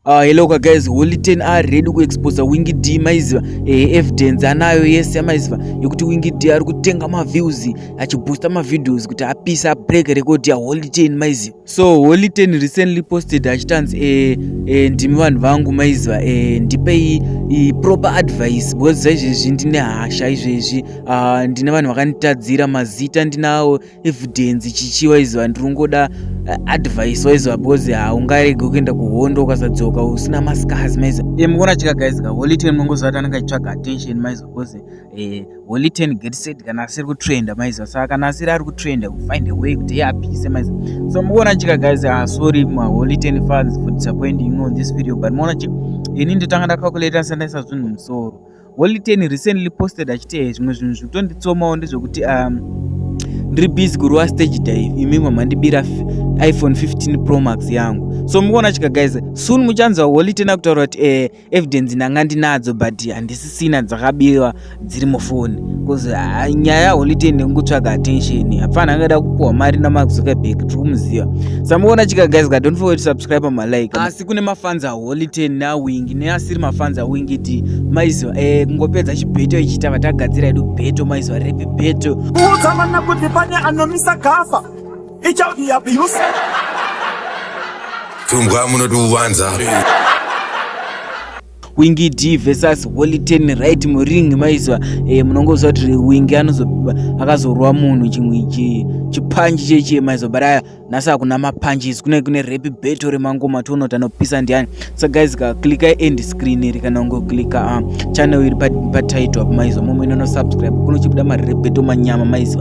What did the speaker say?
Uh, ah, hello ka guys holy ten ari ready kuexposa wingi d maiziva eh, evidence anayo yese yamaiziva yekuti wingi d ari kutenga maviews achiboosta mavideos kuti apise abreak record ya holy ten maiziva so holy ten recently posted achitanzi eh, eh, ndimi vanhu vangu maiziva eh, ndipei eh, proper advice because zvaizvezvi ndine hasha izvezvi uh, ndine vanhu vakanditadzira mazita ndinawo evidence chichi waiziva ndiri kungoda eh, advice waiziva because haungarege kuenda kuhondo ukasadzoka usina mascars maiza e mukuona chika guys ka holy ten munongoziva kuti anenge achitsvaga attention maiza because eh, holy ten get set kana asiri kutrenda maiza saka kana asiri ari kutrenda find a way kuti apise maiza so mukuona chika guys ah, sorry ma holy ten fans for disappointing you know this video but mukuona chika ini ndotanga ndacalculate sandaisa zvinhu musoro holy ten recently posted achiti eh, zvimwe zvinhu zvitonditsomawo ndezvekuti um, ndiri busy kurova stage dive imi mamandibira iphone 15 pro max yangu so mukuona chika guys soon muchanzwa holy ten akutaura kuti eh, evidence ndanga ndinadzo but handisisina dzakabirwa dziri mufoni bcause uh, nyaya yaholy ten nekutsvaga attention hapfana angada kupuhwa mari namax zuckerberg tiri kumuziva samukuona chika guys ka don't forget to subscribe malike ah, First kune mafans a Holy Ten na Wing neasiri mafans a Wing iti maizo eh kungopedza chibeto ichita vatagadzira edu beto maizo repi beto. Kuudza vana kuti pane anomisa gafa. Icha be abuse. Tumbwa munoti uvanza. Wingi D versus Holy Ten right muring maizo eh munongoziva kuti Wingi anozo akazorwa munhu chimwe chipanji cheche maizo baraya nhasi hakuna mapunches kune kune rape battle remangoma tiona kuti anopisa ndiani so guys ka clicka end screen iri kana ungoclicka uh, channel iri patitle pa apo maiziva momwe inono subscribe kunochibuda marape battle manyama maiziva